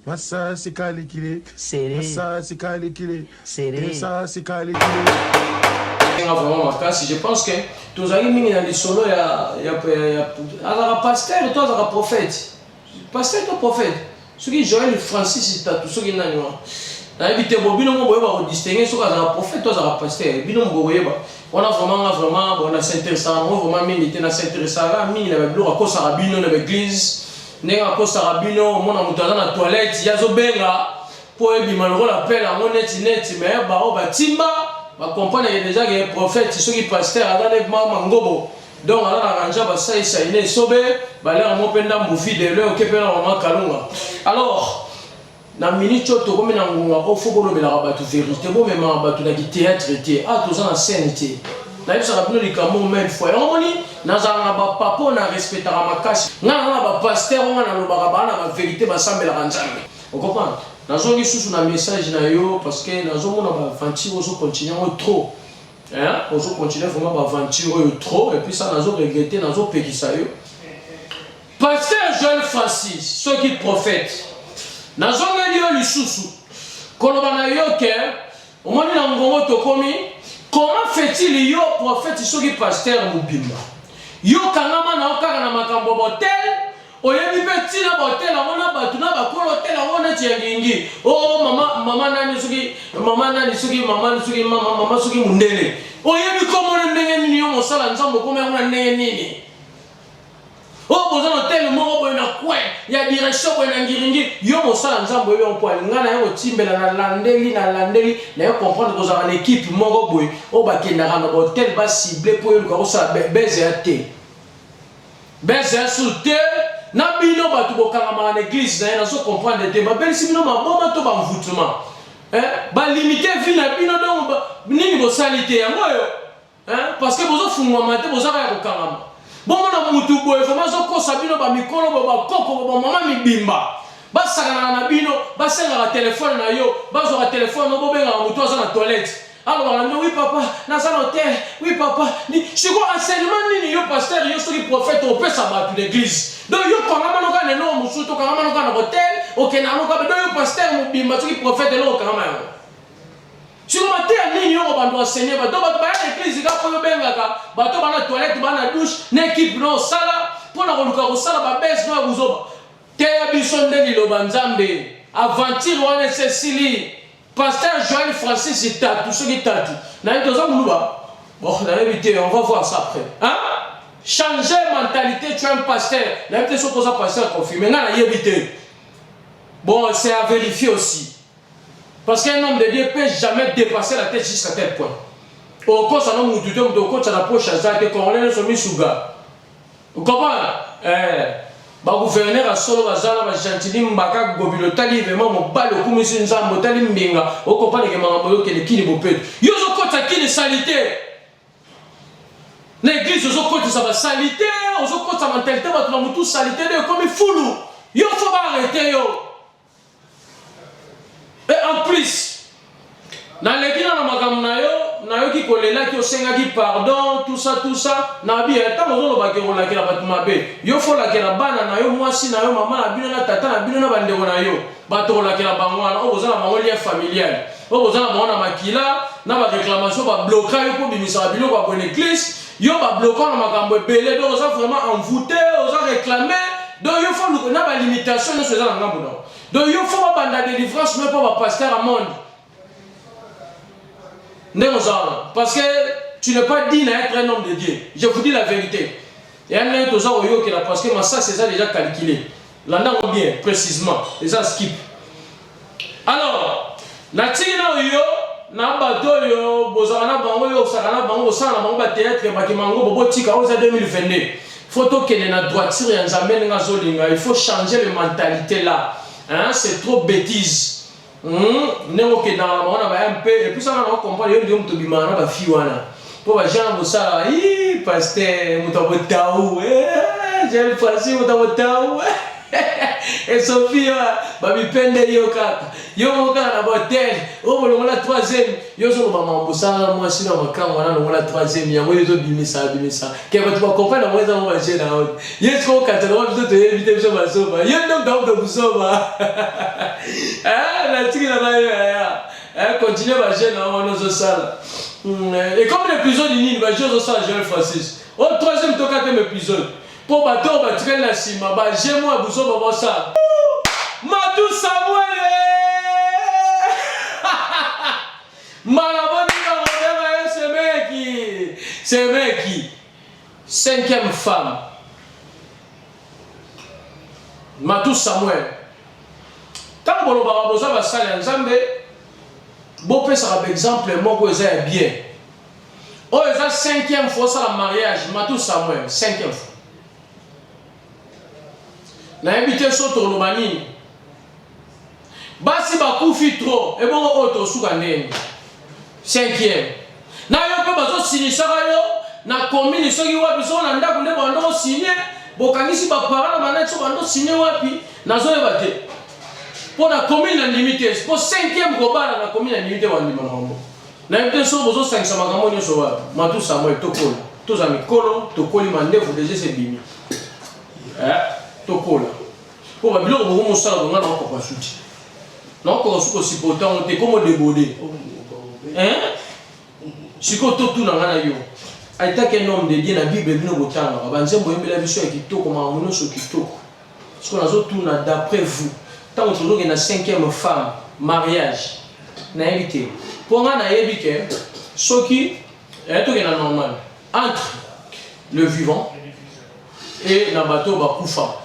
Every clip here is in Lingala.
Masasi kalikile sere masasi kalikile sere masasi kalikile nga vraiment makasi je pense que tozali mingi na lisolo ya ya ya azaka pasteur to azaka prophète pasteur to prophète soki Joël Francis tatu soki nani wana nayebi te bo bino mo boyeba ko distinguer soki azaka prophète to azaka pasteur bino mo boyeba Wana vraiment nga vraiment bon na s'interessa ngo vraiment mingi te na s'interessa nga mingi na babiloko akosaka bino na baeglise ndenge akosaka bino omona moto aza na toilette ye azobenga mpo ebima lokola pele yango neti neti me baoyo batimba bakompreneke deja ke prophète soki pasteur aza nde mama ngobo donc aza na ranja basalisa ine esobe balere mo mpe ndambu vide leo ke mpe na mama kalunga alors Na minute oyo tokomi na ngonga oyo fo bolobelaka bato verite, bomemaka bato na ki theatre te, awa toza na scène te. Nayebisaka bino likambo oyo mille fois, yango omoni nazalaka na ba papa oyo na respectaka makasi, nga naza na ba pasteur oyo nga nalobaka baza na ba verite basambelaka Nzambe, o comprendre? Nazongi lisusu na message na yo parce que nazomona ba aventure ozo continuer yango trop hein, ozo continuer vraiment ba aventure oyo trop et puis ça nazo regretter, nazo pekisa yo. Pasteur Joel Francis soki prophète nazongeli yo lisusu koloba na yo ke omoni na ngongo tokomi comment fait-il yo prophète soki pasteur mobimba yo kangama na yo kaka na makambo botel oyebi mpe ntina baotele yango na bato na bakolo otele yango neti ya ngingi o oh, mama mama nani soki mama nani soki mama soki mama mama soki mondele oyebi komona ndenge nini yo mosala nzambe okomi yango na ndenge nini Oh, boza na hotel moko boye na coin ya direction boye na ngiringi yo mosala nzambe oyo mpo alinga na ye kotimbela na landeli na landeli na yo comprendre kozala na ekipe moko boye oyo bakendaka na bahotel basible mpo yo luka kosala beze ya te beze ya sur te na bino bato bokangamaka na eglise na ye nazo comprendre te babelisi bino maboma to bamvutuma eh, balimite vi na bino dongo nini bosali te yango oyo Hein? Parce que bozo fungwa mate bozo kaya kokangama. Bongo na mutu boye vraiment azo kosa bino ba mikolo ba bakoko ba mama mibimba. Basakanaka na bino, basengaka telefone na yo, bazwaka telefone no bobengaka mutu aza na toilette. alobaka nde wi papa naza na hotel wi papa siko enseignement nini yo pasteur yo soki prophète opesa bato na église donc yo kangama noka na eloko mosusu to kangama noka na hotel okendaka noka donc yo pasteur mobimba soki prophète eloko okangama yango Siko mateya nini yoko bantu enseigner bato bato baya na eglise kaka oyo bengaka bato bana toilette bana douche na equipe na osala mpona koluka kosala babese no ya buzoba teya biso nde liloba nzambe aventure wana esi esili pasteur joel francis tatu soki tatu naye toza muluba bon nayebi te on va voir ça après hein changer mentalité tu es un pasteur nayebi te soki oza pasteur confirme ngai nayebi te bon c'est à vérifier aussi Parce qu'un homme de Dieu peut jamais dépasser la tête jusqu'à tel point. Okosa no mutu te mutu okotsa na poche aza te congolais nyonso misuga. Okomona? Eh. Ba gouverneur ya solo baza na ba gentili mbaka gobilo otali vraiment mobali okumisi nzambe otali mbinga okopaneke makambo oyokele kini bopeto. Yo ozokotsa kini salite. Na eglise ozokotisa ba salite, ozokotsa mentalite bato na mutu salite nde ekomi fulu. Yo fo ba arrete yo. Et en plus, naleki na makambo na yo, nayoki kolelaki osengaki pardon, tout ça tout ça, na bi ntango eh, ozoloba ke kolakela bato mabe, yo fo olakela bana na yo, mwasi na yo, mama na bino na tata na bino na bandeko na yo, bato kolakela bango wana, oyo boza na bango lien familial, oyo boza na bango na makila, na ba reclamation ba bloka yo mpo bimisaka biloko ya boneglise Yo ba bloquant na makambo ebele donc oza vraiment envoute, oza reclame donc yo faut luka na ba limitation nionso eza na ngambo na donc yo faut babanda delivrance no epa ba pasteur ya monde ndenge oza wana parce que tu n'es pas digne à être un homme de Dieu je vous dis la vérité ya ndenge toza koyokela parce que masasi eza déjà calculé landa ngo bien précisement eza skip Alors, natiki na yo na bato oyo bozalaka na bango oyo osaka na bango osala na bango bateatre bakima yango bobotika oyo eza 2022 faut tokende na droiture ya nzambe ndenge azolinga il faut changer le mentalité là hein? c'est trop bêtise hmm? ndenge okendaka na bango na ba mp epuisaka na ocomprendre yo ndio moto obimaka na bafi wana Po ba jean bosala ii pasteur moto ya botau eh, jean francis moto ya botau esofi yo bamipendeli yo kaka yo moko kaka na bahotel oyo bolongola troisième yo ozoloba mama bosala mwasi na makango wana longola troisième yango yo ezobimisa bimisa ke bato bakomprene yango eza ngo baje na yo ye siko okatana wa biso toyebi te biso bazoba yo nde okauta kozoba natiki na bayo yaya Eh, continue ba jeu na wana ozo sala. Hmm, eh, et comme l'épisode nini ba jeu ozo sala Joël Francis. Au oh, troisième to quatrième épisode. Po ba to ba tikali na sima ba jeu moi buzo ba ba sala. Matou Samuel. Malaboni na modema semeki. Semeki. Cinquième femme Matou Samuel tango bolobaka boza basali ya Nzambe bopesaka ba exemple moko eza ya bien oyo eza cinquième fois osala mariage Matou Samuel cinquième fois nayebi te so toloba nini basi bakufi trop ebongo oyo tosuka ndenge cinquième na yo mpe bazosinisaka yo na komini soki wapi soko na ndako nde bando osinie bokangisi bapara na banaki so bando osinie wapi nazoyeba te mpo na komini na ndimi te mpo cinquième kobala na komini na ndimi te bandima na bango Nayebi te soki bozosangisa makambo nyonso wapi. Matou Samuel, tokola. Toza mikolo, tokoli mandefu deja se bimi. Eh, tokola. Mpo ba biloko boko mosala bonga na okoka suti. Na okoka suko supporter yango te, komo debode. Eh? Siko totuna nga na yo. Aitaki un homme de Dieu na Bible bino botangaka. Banzembo oyembela biso ya kitoko, makambo nyonso kitoko. Sikoyo nazo tuna d'après vous tango tozo kende na cinquième femme mariage nayebi te po nga nayebi ke soki eh, tokende na normal entre le vivant et na bato bakufa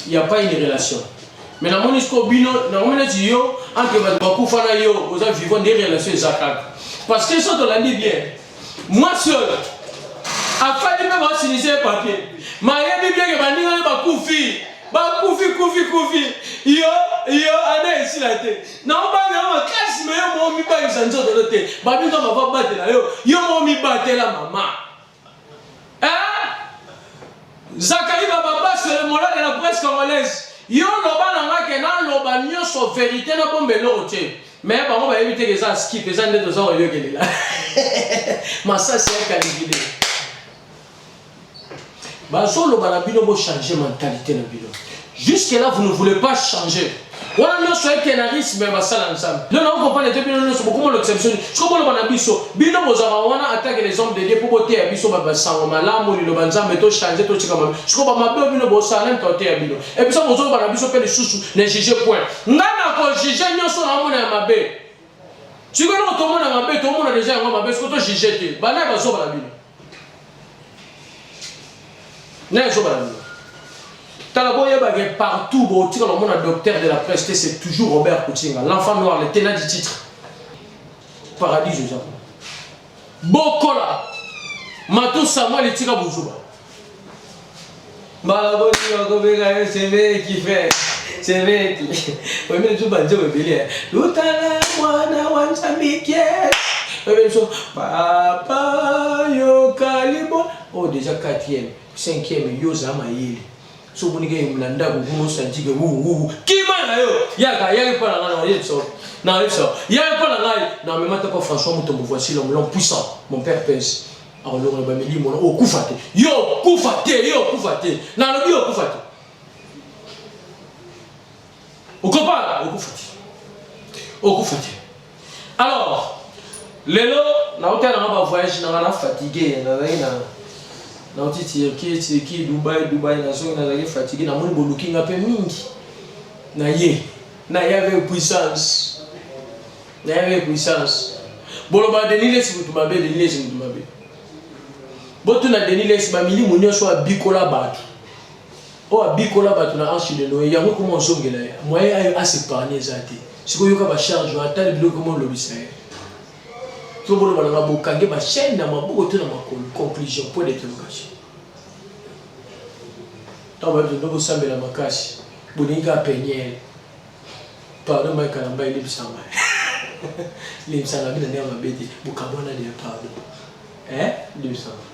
il n'y a pas une relation mais namoni sikoyo bino nakomi neti yo entre bato bakufa na yo oza vivant nde relation eza kaka parce que so tolandi bien mwasi oyo afandi mpe basinise papier mayebi bieke baninga nde bakufi bakufi kufi kufi yo yo ane esila te naobanga yo makasi me yo moo mibangisa nzoto no te babinga bava batela yo yo moo mibatela mama Eh? Zachary Bababa, c'est le moral de la presse congolaise. Yo loba na nga ke na loba nyoso verite na bombe eloko te. Mais bango bayebi te ke eza skip, eza nde toza koyokelela. Masasi ya kalibile. Bazoloba na bino bo changer mentalité na bino. Jusque là vous ne voulez pas changer. wana nyonso ekenarisme ya basala ya nzambe lelo nako comprendre te bino nyonso bokomolokisa biso nini siko boloba na biso bino bozalaka wana atake les hommes de dieu mpo boteya biso bato basango malamu liloba nzambe tochange totika mabe siko bamabe oyo bino bosala nani kaoteya bino ebiso bozoloba na biso mpe lisusu na juge point ngai nakojuge nyonso naomona ya mabe siko eloko tomona mabe tomona deja yango mabe siko tojuge te bana ya bazoba na bino naye zoba na bino tala boyeba ke partout botika bamona docteur de la presse te c'est toujours robert kutinga l'enfant noir le tenant du titre paradis oza bokola matu samuel etika bozuba Mbala boni bakobeka yo semeki frère semeki oyemeli biso banzembo ebele ya lutala mwana wa nzambike oyemeli biso papa yokalibo oyo oh, deja 4e 5e yo oza mayele so omoni ke na ndako kuna osanti ke wuwu kima na yo yaka yaki mpo na ngai na oyebisa na oyebisa yaki mpo na ngai na memata mpo françois motombo voici l'homme l'homme puissant mon père pèse akolongola bamilimo wana okufa te yo okufa te yo okufa te nalobi yo okufa te okopala okufa te okufa te alors lelo naotala nanga bavoyage nanga na fatigue nazalaki na nauti tirki tirki dubai dubai nazongi nazalaki fatigue namoni boluki nga mpe mingi na ye na ye avec puissance Nayebi puissance. Boloba Denis Lesi mutu mabe, Denis Lesi mutu mabe. Botuna Denis Lesi ba milimu nyonso abikola bato. Oyo abikola bato na Anse de Noé, yango ekoma ozongela ye. Moye ayo asepargne eza te. Sikoyo yoka ba charge wana, tala biloko ekoma olobisa ye. To boloba na nga bokange ba chaîne na maboko to na makolo. Conclusion, point d'interrogation. Ntango bayebi tondo bosambela makasi, bolingi kaka peniele. Pardon Mike Kalamba elibisa nga. Elibisa nga bina ndenge mabe te. Bokabwana lia pardon. Eh? Elibisa nga.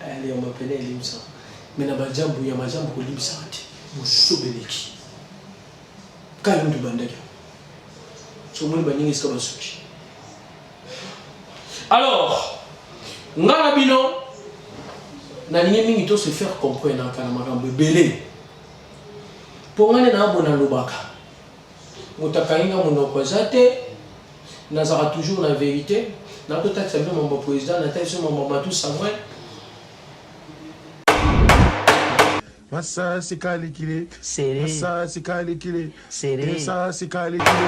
Eh, lia mapele elibisa nga. Mais na bajambu ya majambu kolibisa nga te. Bosobe leki. Kayo ndu bandaki. So moni baninga esika basuki. Alors, nga na bino nalingi mingi to se faire comprendre na makambo ebele. Po nga nde naza boye nalobaka mutu akangi nga munoko eza te nazalaka toujours na verite na to tatisa bino mambo president na tatisa bino mambo matou samuel masasi kalikili masasi kalikili masasi kalikili